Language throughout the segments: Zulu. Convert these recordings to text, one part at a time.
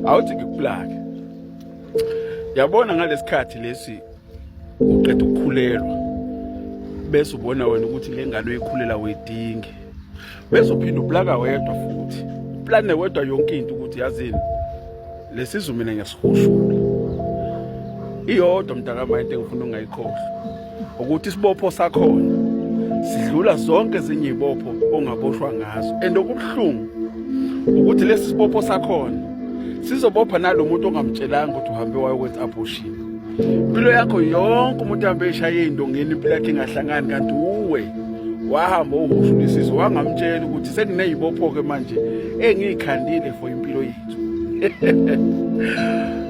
awuthi ngikuplake yabona ngalesikhathi lesi uqeda ukukhulelwa bese ubona wena ukuthi le ngane oyikhulela wedingi bese uphinde uplaka wedwa futhi uplane wedwa yonke into ukuthi yazini lesizwe mina ngiyasihushula iyodwa mntakama into engifuna ungayikhohlwa ukuthi isibopho sakhona sidlula zonke ezinye izibopho ongaboshwa ngazo and okubuhlungu ukuthi lesi sibopho sakhona sizobopha nalo muntu ongamtshelanga ukuthi uhambe wayokwenza abortion impilo yakho yonke umuntu ahambe eshaye indongeni impilo yakhe ingahlangani kanti uwe wahamba uhushulisizo wangamtshela ukuthi sekuneyibopho-ke manje engiyikhandile for impilo yethu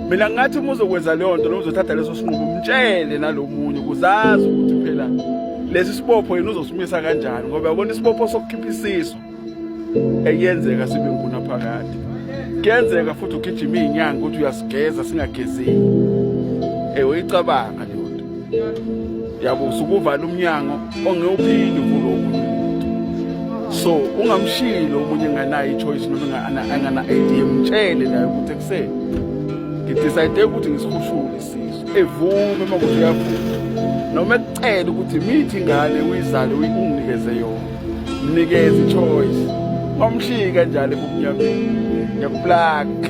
mina ngathi uma uzokwenza leyo nto noma uzothatha leso sinqumo umtshele nalomunye ukuzazi ukuthi phela lesi sibopho yena uzosimisa kanjani ngoba yabona isibopho sokukhipha isiso eyenzeka sibe nguna phakade kuyenzeka futhi ugijima iy'nyanga ukuthi uyasigeza singagezeki ewe icabanga yabo usukuvala umnyango ongewuphindi uvula omunye so ungamshilo omunye enganayo i-choice noma angana-idea mtshele nayo ukuthi ekuseni ngidicide ukuthi ngisihushule isisu evume uma kuthi uyavuma noma ekucela ukuthi mithi ingane uyizale unginikeze yona mnikeze i-choice wamshiyi kanjalo ebumnyameni ngiyakuplaka